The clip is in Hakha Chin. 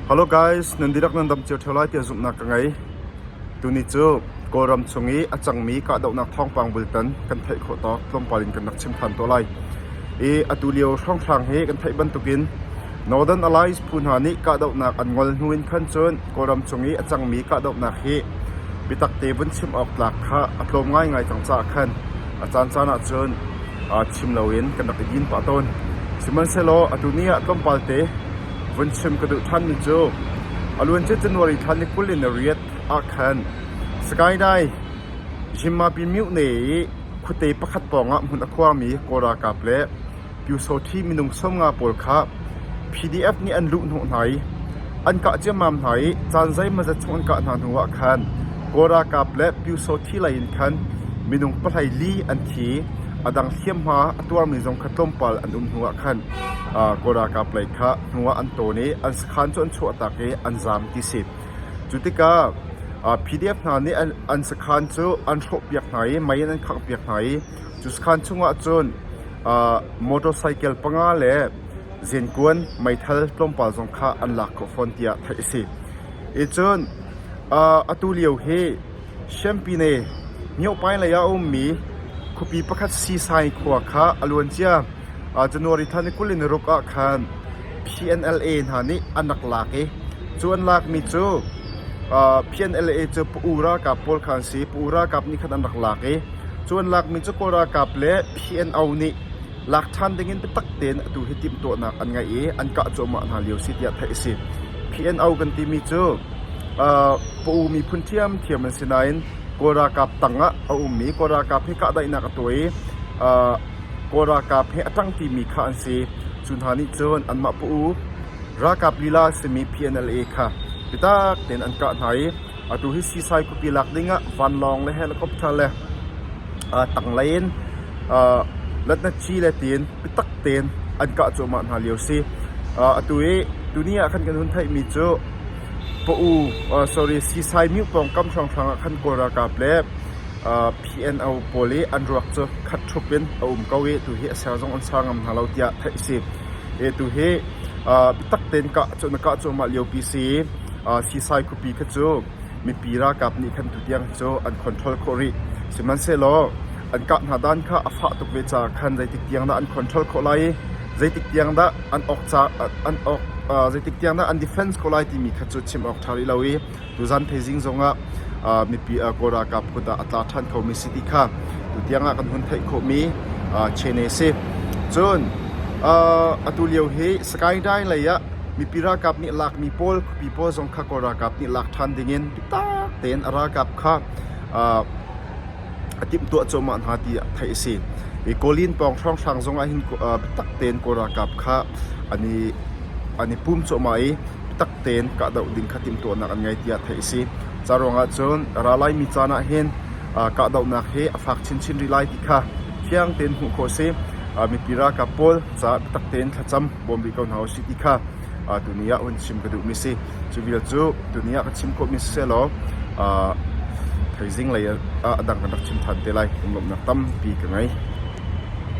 Hello guys, nan dihlak nan dam cio ṭheo lai tiah zumhnak ka ngei. Tuni cu Kawlram chung i a cangmi kahdohnak thawngpang bultan kan theih khawh tawk tlawmpal in kan rak chim ṭhan tawn lai. I atu lio hrawnghrang hi kan theih bantukin Northern Alliance phu hna nih kahdohnak an ngol hnu in khan cun Kawlram chung i a cangmi kahdohnak hi biatakte vun chim awk tlak kha a tlawm ngaingai cang caah khan a caancaan ahcun chim loin kan rak i din pah tawn. Sihmanhsehlaw atu ni ah tlawmpalte vun chim ka duh ṭhanmi cu a luancia January thla ni kul in na riat ah khan Sagaing Zhimmapi Myone i khuate pakhat pawngah hmun a khuangmi Kawl ralkap le Pyusawṭhi minung sau nga pawl kha PDF nih an luhhnawh hna i an kah ciammam hna i caan zeimawzat chung an kah hna hnuah khan Kawl ralkap le Pyusawṭhi lei in khan minung pahlei li an thi i a dang hliamhma a tuarmi zong kha tlawmpal an um hnuah khan Kawl ralkap lei kha hnuah an tawn i an sakhan cu an chuahtak i an zaam ti si. Cu tikah PDF hna nih an sakhan cu an hrawhpiak hna i mei in an khanghpiak hna i cu sakhan chungah cun motorcycle panga le zenkuan meithal tlawmpal zong kha an lak khawh fawn tiah theih a si. Icun atu lio hi Champine Myohpaing lei ah a ummi khuapi pakhat Sisai khua kha a luancia January thla ni kul in ni ruk ah khan PNLA hna nih an rak lak i cu an lakmi cu PNLA cu pa u ralkap pawl kha an si. Pa u ralkap nih khan an rak lak i cu an lakmi cu Kawl ralkap le PNO nih lak ṭhan dingin biatak tein atu hi timhtuahnak an ngeih i an kah cuahmah hna lio si tiah theih a si. PNO kan timi cu uh, pa u miphun ṭhiamṭhiam an si nain Kawl ralkap tangah a ummi Kawl ralkap he kahdaihnak a tuah i uh, Kawl ralkap he a ṭang timi kha an si. Cu hna nih cun anmah pa u ralkap lila simi PNLA kha bitak tein an kah hna i Atu hi sisai khuapi lak dingah vanlawng le helicopter le tanglei in latnatci le tiin biatak tein an kah cuahmah hna lio si. Atu i tuni ah khan kan hun theihmi cu Pa'u sorry sisai myu pawngkam hrawnghrang ah khan Kawl ralkap le PNO pawl i an ruak cu khat thup in a um ko i tu hi a ser zong an ser ngam hna lo tiah theih a si. Tu hi biatak tein kah na kah cuahmah liopi si i Sisai khuapi kha cu mipi ralkap nih khan tutiang cu an control khawh rih. Sihmanhsehlaw an kah hna dan kha a fah tuk ve caah khan zeitik tiang dah an control khawh lai i zeitik tiang dah an awk an awk zeitik tiang dah an defence khawh lai timi kha cu chim awk ṭha rih lo i tuzan thaizing zongah mipi Kawl ralkap kut ah a tla ṭhan khomi si ti kha tutiang ah kan hun theih khawhmi chene a si. Cun atu lio hi Sagaing Dine lei ah Mipi ralkap nih lakmi pawl khuapi pawl zong kha Kawl ralkap nih lak ṭhan dingin biatak tein a ralkap kha a timhtuah cuahmah hna ti theih a si. Kawlin pawng hrawnghrang zong ah hin biatak tein Kawl ralkap kha an i an i pum cuahmah i biatak tein kahdoh ding kha timhtuahnak an ngei tiah theih a si. Ca ruangah cun ralai mi caan ah hin kahdohnak hi a fak chinchin rih lai ti kha fiang tein hmuh khawh a si. Mipi ralkap pawl caah taktak tein thlacam bawm rih ko hna u sih ti kha tuni ah hun chim ka duhmi si. Cu vial cu tuni ah ka chim khawhmi sisehlaw thaizing lei ah a dang kan rak chim ṭhan te lai. Lawmhnak tampi ka ngei.